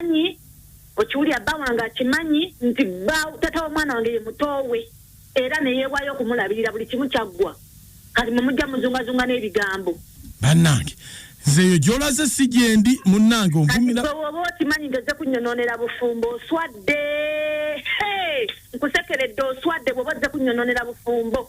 akimanyi okiwulira bba wange akimanyi nti bba tata w'omwana wange ye mutoowe era neyeewaayo okumulabirira buli kimu kyaggwa kati mwe mujja muzungazunga n'ebigambo bannange nzeeyo gyolaze si gyendi munnange onvumiraaoba okimanyi ngeze kunyononera bufumbo oswadde nkusekeredde oswadde bwoba ozze kunyononera bufumbo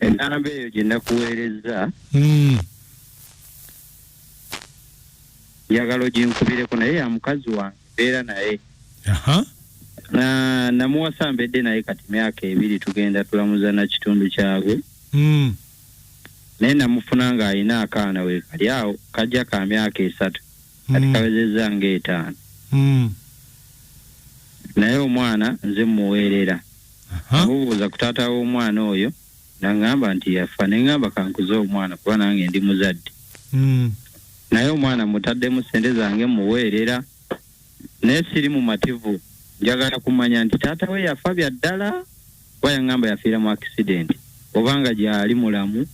enamba eyo gye nakuweerezza Mm. njagala oginkubireko naye ya mukazi wange mbeera naye Aha. na namuwasa mbedde naye kati myaka ebiri tugenda tulamuza na kitundu kyabwe Mm. naye namufuna ng'alina akaana we kali awo kajja ka myaka esatu kati mm. kawezezza nga etaano mm. naye omwana nze muweerera amubuuza ku taata w'omwana oyo naŋŋamba nti yafa ne ŋŋamba kankuze omwana kuba nange ndi muzadde mm. naye omwana mutaddemu ssente zange muweerera naye siri mumativu njagala kumanya nti taata we yafa bya ddala kuba yaŋŋamba yafiira mu akisidenti oba nga gyali mulamu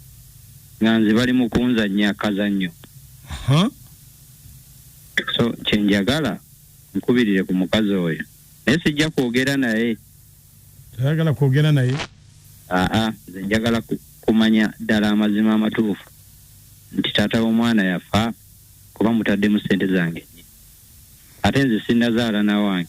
nga nze bali mu kunzannya akazannyo so kye njagala nkubirire ku mukazi oyo naye sijja kwogera naye ayagala kwogera naye aa nze njagala kumanya ddala amazima amatuufu nti taata w'omwana yafa kuba mutaddemu ssente zange ate nze sinnazaala nawange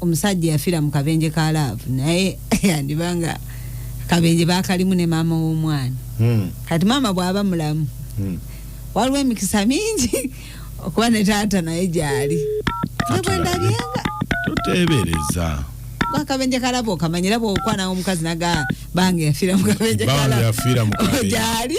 omusajja yafira mu kabenje ka love naye yandibanga kabenje bakalimu ne maama w'omwana hmm. kati maama bw'aba mulamu hmm. waliwo emikisa mingi okuba ne taata naye gyali nebwendabyenga tuteebereza akabenje kalabo kamanyira bwokwana omukazi naga bange yafira mu kabenje kalabo yafira mu kabenje gyali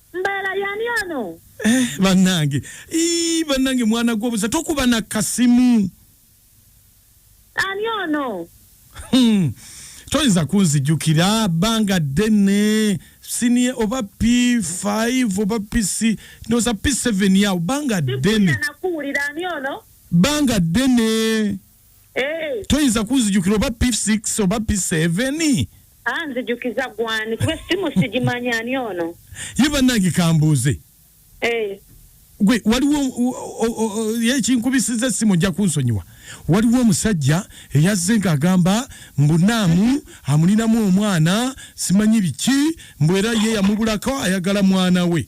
mbeera yani ono eh, banange ii banange mwana gwobuza tokuba na kasimu ani ono hmm. toyinza kunzijukira banga ddene sinie oba p5 oba pc noza p7 yawo banga ddene banga ddene Eh. toyinza kunzijukira oba p6 oba p7 anzijukiza gwani kuba essimu sigimanyi ani ono ye bannange kambuuze eh. gwe waliwo yekinkubisiza essimu ojja kunsonyiwa waliwo omusajja eyazze ng'agamba mbu naamu amulinamu omwana simanyi biki mbu era ye yamubulako ayagala mwana we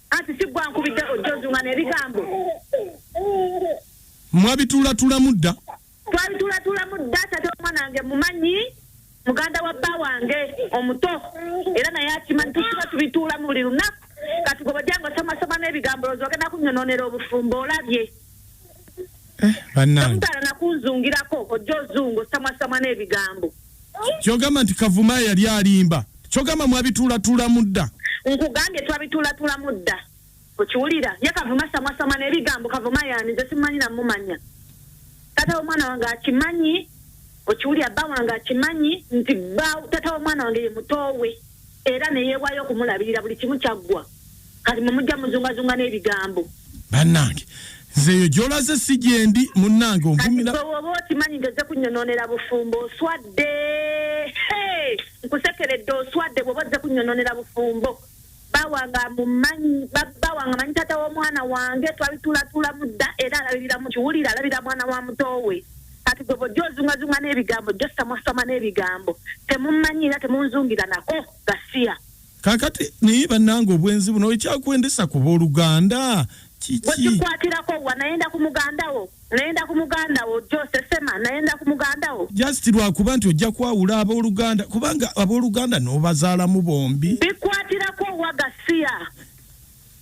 Anti si gwe ankubidde ojja ozunga n'ebigambo. Mwabituulatulamu dda. Twabituulatulamu dda taata w'omwana wange mumanyi muganda wa bba wange omuto era naye akimanyi tusiba tubituulamu buli lunaku kati gwe bajja ngaosomasoma n'ebigambo loozi ogenda kunyononera obufumbo olabye eh, bannange. Tomutaala nakunzungirako ojja ozunga osamwasama n'ebigambo. Kyogamba nti kavuma yali alimba kyogamba mwabitulatula mudda nkugambye twabitulatula mudda okiwulira ye kavuma samwasama nebigambo kavuma yani nze simumanyi namumanya tata womwana wange akimanyi okiwulira bba wange akimanyi nti tata womwana wange ye mutowe era neyewayo okumulabirira buli kimu kyaggwa kati mwe mujja muzungazunga n'ebigambo bannange nze eyo gyolaze si gyendi munnange onvumilaoba okimanyi nti ozze kunyononera bufumbo oswadde nkusekeredde oswadde bwoba ozze kunyononera bufumbo bawanga mumanyi bawanga manyi tata w'omwana wange twabitulatulamu dda era alabiriramu kiwulire alabira mwana wa mutowe kati gwe bojja ozungazunga n'ebigambo josita mwasama n'ebigambo temumanyi era temunzungira nako gasiya Kakati naye banange obwenzi buno ekyakwendesa ku boluganda kiki? Wekikwatirako wa nayenda ku mugandawo nayenda ku mugandawo Jose Sema nayenda ku mugandawo. Just lwakuba nti ojja kwawula aboluganda kubanga aboluganda nobazaalamu bombi. Bikwatirako wa gasiya.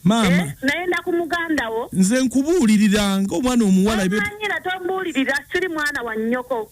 Maama. Eh, nayenda ku mugandawo. Nze nkubuulirira nga omwana omuwala. Omanyira tombuulirira siri mwana wa nnyoko.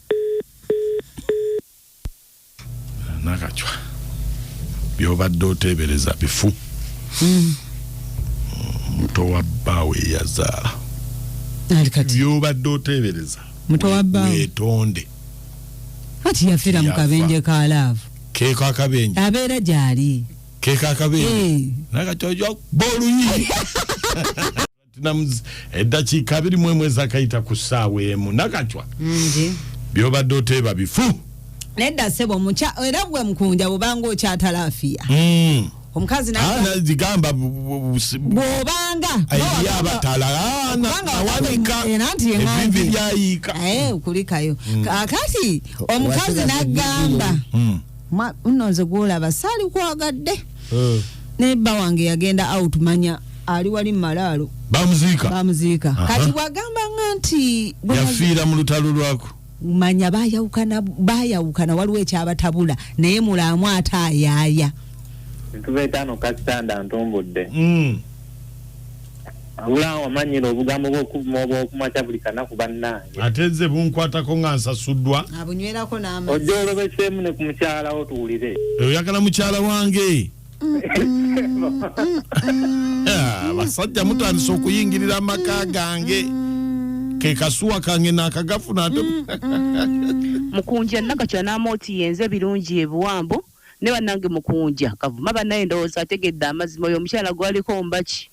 nakacwa byobadde oteebereza bifu hmm. muto wa bbaawe eyazaala byobadde oteebereza muto wa bbaawe wetonde kati yafira mu kabenje ka laavu keeko akabenje abeera gyali keeko akabenje eh. nakati oja booluyi Platinumz eddakiika abiri mu emu ezakayita ku ssaawa emu nakacwa byobadde oteeba bifu nedda sebo omukya era gwe mukunja bwobanga okyatalafiya hmm. omukazi nagamba ah, bwobanga eriyo abatala ah, nawanika ebivi byayiika eh, kulikayo hmm. kakati omukazi nagamba hmm. Mwa- nno nze gwolaba saali kwagadde Eh. naye bba wange yagenda out manya ali wali mumalaalo bamuziika bamuziika Aha. kati bwagamba nga nti gwe mazi- yafiira mu lutalo lwako manya bayawukana bayawukana waliwo ekyabatabula naye mulaamu ate ayaaya ntuva etaano kasitanda ntumbudde Mm. wamanyira obugambo bwokumakya buli kanaku bannange ate nze bunkwatako nga nsasuddwa abunywerako n'amazzi ojja olobeseemu ne ku mukyalawo tuwulire oyagala mukyala wange ah, abasajja mutandise okuyingirira amaka gange ke kasuwa kange nakagafuna ate mukunja nagakyanamooti yenze birungi ebiwambo ne banange mukunja kavuma banaye ndowooza ategedde amazima oyo omukyala gwaliko mbaki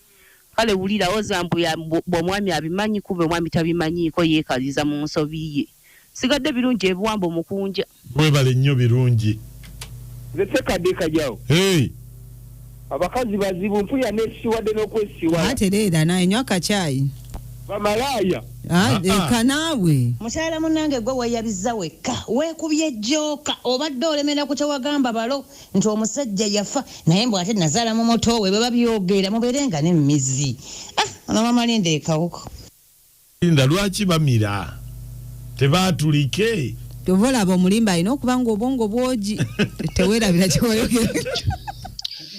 kale wulira oza mbu ya- mbu- mbu omwami abimanyi kumbe omwami tabimanyiiko yeekaliza mu nsobi ye sigadde birungi ebiwambo mukunja Mwebale nnyo birungi. Nze sekadde kajawo. Hey. abakazi bazibu mpuya nesiwadde nokwesiwala atereera naye nywa akakyayi bamalaaya Ah, Ah, ah. leka naawe mukyala munange gwe weyabiza wekka wekubye jooka obadde olemera ku kyewagamba balo nti omusajja yafa naye mbw ate nazaala mu muto we beba byogera mubeere nga nemizi ah ono mama linda ekawuko Linda lwaki bamira tebatulike. Kyova olaba omulimba alina okuba nga obwongo bwogi tewerabira kyoyogera.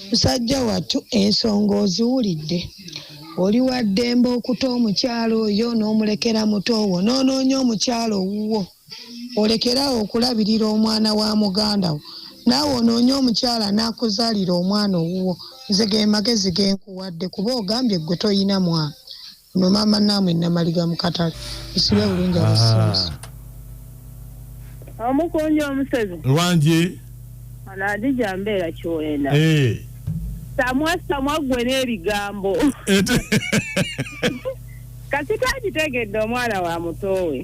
Musajja wattu ensonga oziwulidde. Oli waddembe okuta omukyala oyo n'omulekera muto wo n'onoonya omukyala owuwo olekere awo okulabirira omwana wa muganda wo naawe onoonye omukyala n'akuzaalira omwana owuwo. Nze ge magezi ge nkuwadde kuba ogambye ggwe tolina mwana. Ono maama naamwe namaliga mu katale nsibe ah, bulungi abasinzi. Ah. Omukunja omusezi. Lwanje. Ono adija mbeera kiwenda. Eh. Samwa samwa gwe n'ebigambo. Kati kagitegedde omwana wa mutowe.